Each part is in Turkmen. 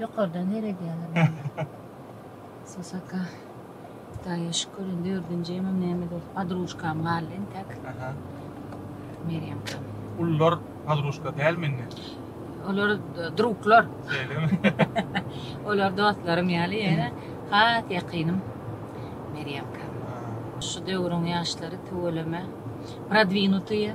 Ýokardan seredýäler. Sosaka. Hudaýa şükür, indi dördünji emem näme dol, podrujkam galdy entek. Aha. Merýemkam. Ulular podrujka dälmi indi? Olar druglar. Şeýlemi? Olar dostlarym ýaly ýöne has ýakynym Merýemka. Şu döwrüň ýaşlary tüweleme prodwinutyýe.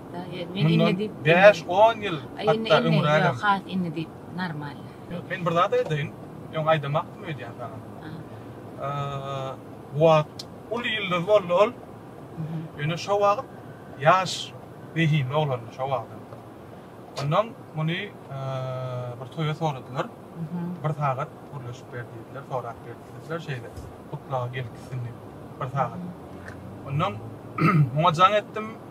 Mundan bäş, on ýyl hatda öňrägem. Has indi diýip, normal. Men bir zat aýdaýyn. Öň aýdamakdym öýdýän saňa. Bu wagt uly ýyldyz boldy ol. Ýöne şo wagt ýaş zehinli oglandy şo wagt. Ondan muny bir toýa soradylar. Bir sagat gürleşip ber diýdiler, sorap ber diýdiler. Şeýle gutlaga gelip gitsin diýip bir sagat. Ondan muňa jaň etdim.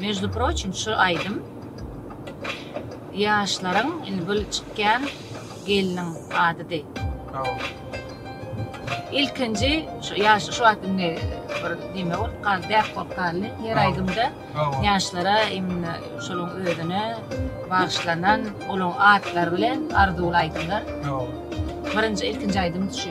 Межdu proçim şu aýdym ýaşlaryň indi bu çykýan gelniň adydy. Ilkinji şu ýaş şu wagt indi bir dime bolup galdy, däp bolup galdy. Her aýdymda ýaşlara imna şonuň özüne bagyşlanan olaň atlary bilen arzuwly aýdymlar. Birinji ilkinji aýdym şu.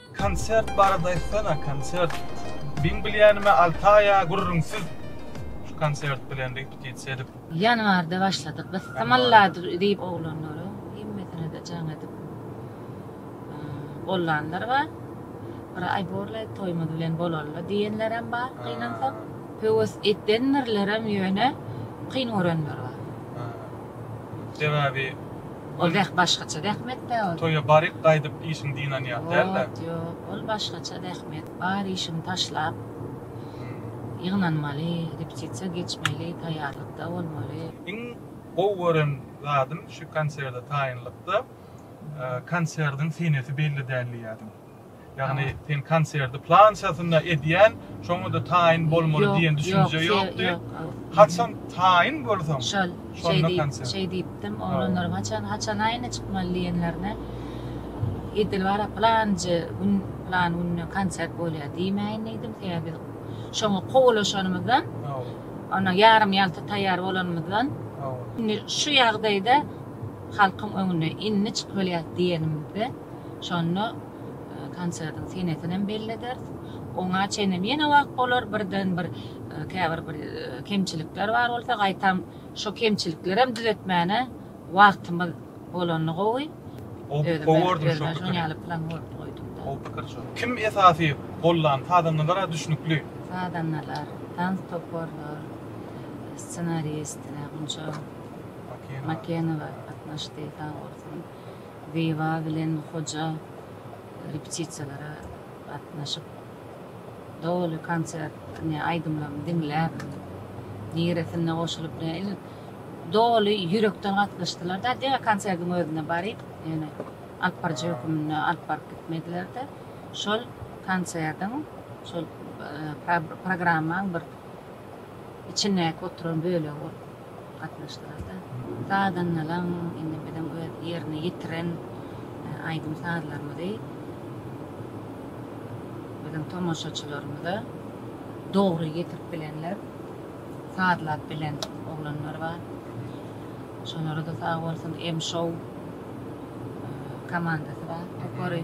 Konsert barada aýtsana konsert. Meň bilýänime Altaýa gürrüňsiz şu konsert bilen repetisiýa edip. Ýanwarda başladyk biz Samalladr diýip oglanlaryň hemmesinede jaň edip gollanlar bar. Bir aý borlaý toýumyz bilen bolalyda diýenlerem bar gynansak. Höwes edendirlerem ýöne kyn görenler bar. Sebäbi Ol zäh başgaça zähmet-dä ol. Toýa baryp gaýdyp işiň dynany ýaly däl-dä. Ýok, ýok, ol başgaça zähmet. Bar işiňi taşlap, ýygnanmaly, repetisiýa geçmeli, taýýarlykda bolmaly. Iň gowy gören zadym şu konserde taýynlykda, konserdiň senesi belli däl diýýärdim. Ýagny sen konserti plançasynda edýän, şoňa-da taýyn bolmaly diýen düşünje ýokdy. Haçan taýyn bolsaň, şonda konsert. Şeý diýipdim, oglanlaryň haçan, haçan aýna çykmaly diýenlerine, edil bara planjy gün, plan günde konsert bolýar diýmäýin diýdim. Sebäbi biz şoňa kowalaşanymyzdan, onuň ýarym-ýalta taýýar bolanymyzdan, indi şu ýagdaýda halkyň öňüne indi çykylyýar diýenimizde, Şonda konsertiň senesinem bellederis. Oňa çenem ýene wagt bolar. Birden bir käbir bir kemçilikler bar bolsa, gaýtam şo kemçiliklerem düzetmäne wagtymyz bolanda gowy. Gowy gördüm şo pikiri. Özüm-ä şoň ýaly plan goýup goýdum. Gowy pikir şo. Kim esasy gollan? Sazandalar-a düşnükli. Sazandalar, tans toparlar, ssenarist Gunça Makenowa gatnaşdy, sag bolsun. Zyba bilen Hoja repetisiýalara gatnaşyp, doly konsert, ne aýdymlaryny diňläp, niresinde goşulyp, ne il doly ýürekden gatnaşdylar-da, diňe konserdiň özüne baryp, ýöne alyp baryjy höküminde alyp baryp gitmediler-de, şol konserdiň, şol programmaň bir içindäki oturan bölegi bolup. gatnaşdylar-da. Sazandalaň indi biziň öz ýerine ýetiren aýdym-sazlarymyzy biziň tomaşaçylarymyza dogry ýetirip bilenler, sazlap bilen oglanlar bar. Şolara-da sag bolsun M-show komandasy bar, topary.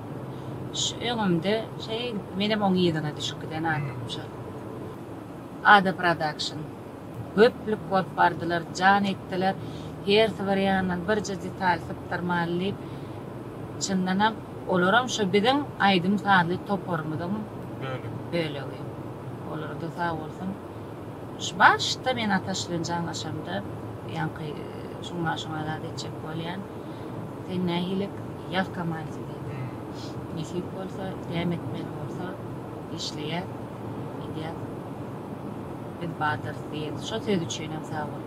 Şu öňümde şeý menem oň yzyna düşüp giden adamymşa. Ada production. Göplük bolup bardylar, jan etdiler. Hersi bir ýandan birje detal sypdyrmaly diýip. Çyndanam olaram şu biziň aýdym-sazly toparymyzyň bölegi. Olara-da sag bolsun. Başda men Ataş bilen jaňlaşamda, ýaňky şuňa şuňa zat etjek bolýan. Sen nähilek ýaz kamanisi diýdi. Nesip bolsa, däm etmeli bolsa, işleýär, edýär. Biz badyrys diýen. Şo söz üçinem sag bol.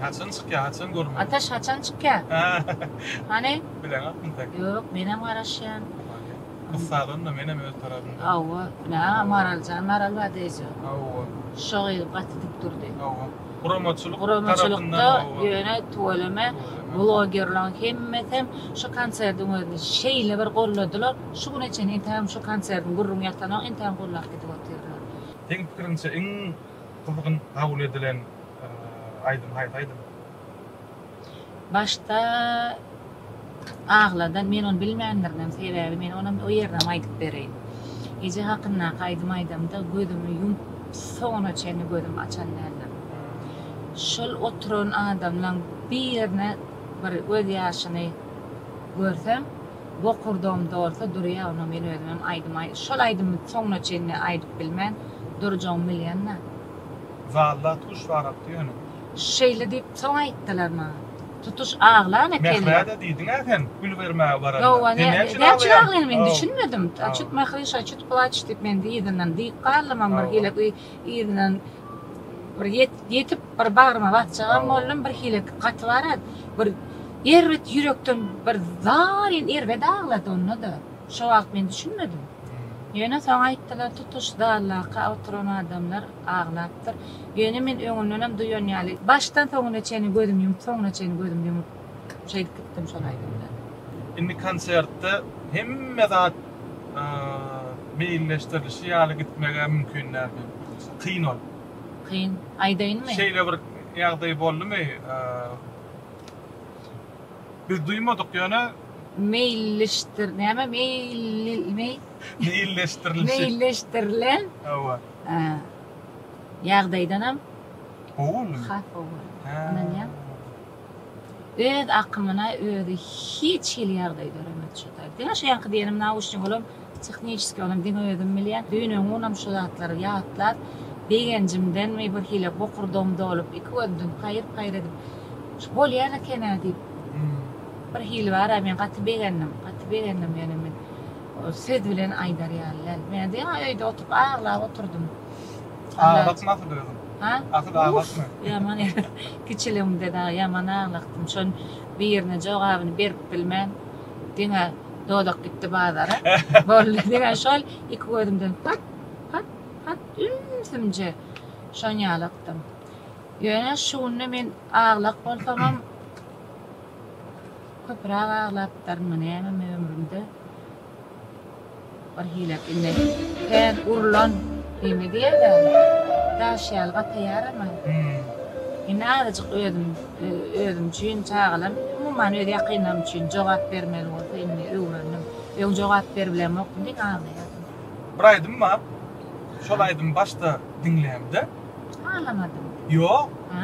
Haçan çykýar, haçan görmeli? Ataş haçan çykýar? Hany? Bileňokmy sen? Ýok, menem garaşýan. Gyz sazanda menem öz tarapymdan. Hawa, nä Maraljan Maral bar diýjek. Hawa. Şo gyz gaty dik durdy. Hawa. Guramaçylyk tarapyndan. Guramaçylykda ýöne tüweleme blogerlaň hemmesem şo konserdiň özüni şeýle bir golladylar, şu güne çenli entägem şo konserdiň gürrüňi ýatanok entägem gollap gidip otyrlar. Seň pikiriňçe iň gyzgyn kabul edilen aýdym haýsy aýdym? Başda aglada men ony bilmändirinem sebäbi men onam o ýerinem aýdyp bereýin. Eje hakyndaky aýdym aýdamda gözümi ýumup soňuna çenli gözüm açan däldim. Şol oturan adamlaň bir ýerine bir göz ýaşyny görsem bokurdagym dolsa durýa onda men özümem aýdym aý şol aýdymy soňuna çenli aýdyp bilmän durjagym bilýanda. Zalda tuş barapdy ýöne. Şeýle diýip soň aýtdylar maňa. Tutuş aglan ekenler. Mährä-de diýdiň-ä sen, gül bermäge baranda. Hawa, ne, näçün aglaýan men düşünmedim. Çut Mähri şa, çut plaç diýip men yzyndan diýip galdymam bir hile yzyndan bir ýetip bir bagryma basjagam boldum bir hile gaty bara bir erbet ýürekden bir zaryn erbet aglady onda-da. Şo wagt men düşünmedim. Ýöne soň aýtdylar tutuş zaldaky oturan adamlar. Aglapdyr. Ýöne men öňündenem duýan ýaly, başdan soňuna çenli gözüm ýumup, soňuna çenli gözüm ýumup şeýdip gitdim şol aýdymda. Indi konsertde hemme zat meýilleşdirilişi ýaly gitmeg-ä mümkin dälmi? Kyn ol. Kyn. Aýdaýynmy? Şeýle bir ýagdaý boldumy? Biz duýmadyk, ýöne. Meýilleşdir, näme? Meýil, meý. Meýilleşdirilişi. Meýilleşdirilen. Hawa. ýagdaýdanam has owadan, ynanýan. Öz akymyna özi hiç hili ýagdaý döremez şu taýda. Diňe şu ýaňky diýenim nauşnik olam tehniçeskiý onam diňe özüm bilýän. Düýn-öňňunam şu zatlary ýatlap, begenjimdenmi bir hili bokurdagym dolup, iki gözümden paýyr-paýyr edip, şu bolýan eken-ä diýip, bir hili bar-a men gaty begendim, gaty begendim ýöne men. Söz bilen aýdar ýaly däl. Men diýen ýaly öýde oturyp aglap oturdym. Aglatma asyl özüň. Ha? Asyl aglatma. Ýaman kiçiligimde dagy ýaman aglakdym. Şon birine jogabyny berip bilmän diňe dodak gitdi bazara. Boldy diňe şol iki gözümden pat pat pat ümsümje şon ýaly akdym. Ýöne şu günde men aglak bolsamam Köpürak aglapdyrmy nämemi ömrümde bir hile indi tel urlan hili diýerler daş ýaly gataýaramy indi azajyk özüm özüm üçin çagalam umuman öz ýakynlarym üçin jogap bermeli bolsa indi öwrendim öň jogap beribilemokdym diýip aglaýardym. Bir aýdym bar şol aýdymy başda diňlämde. Aglamadym. Ýok. Ha.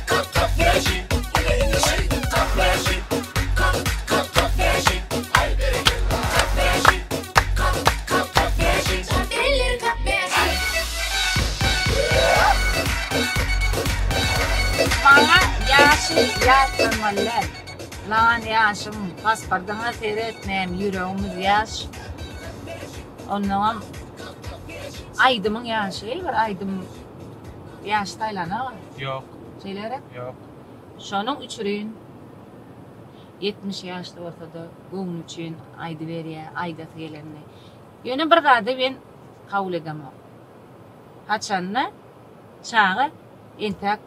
Maňa ýaşy ýatdan wallay. Lawan ýaşym pasportyňa seretmem ýüregimiz ýaş onnoňam aýdymyň ýaşy bir aýdym Ýaşy saýlanok. Ýok. Şeýle gerek? Ýok. Şonuň üçrin ýetmiş ýaşly bolsa-da göwni üçin aýdyberýä aýdasy gelenini. Ýöne bir zady men kabul edemok. Haçanda çaga entäk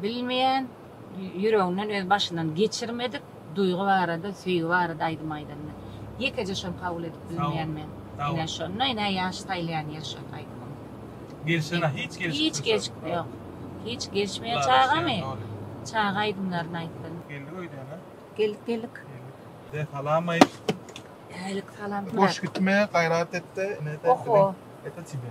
Bilmeýän, ýüreginden öz başyndan geçirmedik duýgy barada, söýgi barada aýdym aýdanda. Ýekeje şony kabul edip bilmeýän men. Ine şonda ine ýaş saýlaýan ýeri şo aýdymyň. Gelşenä hiç gelşik. Hiç gelşik ýok. Hiç gelşmeýän çagamy? Çaga aýdymlaryny aýtsyn. Geldik öýdene. Geldik geldik. De salam aýt. Älik salam. Boş gitme gaýrat etde. Oho. Ete tibe.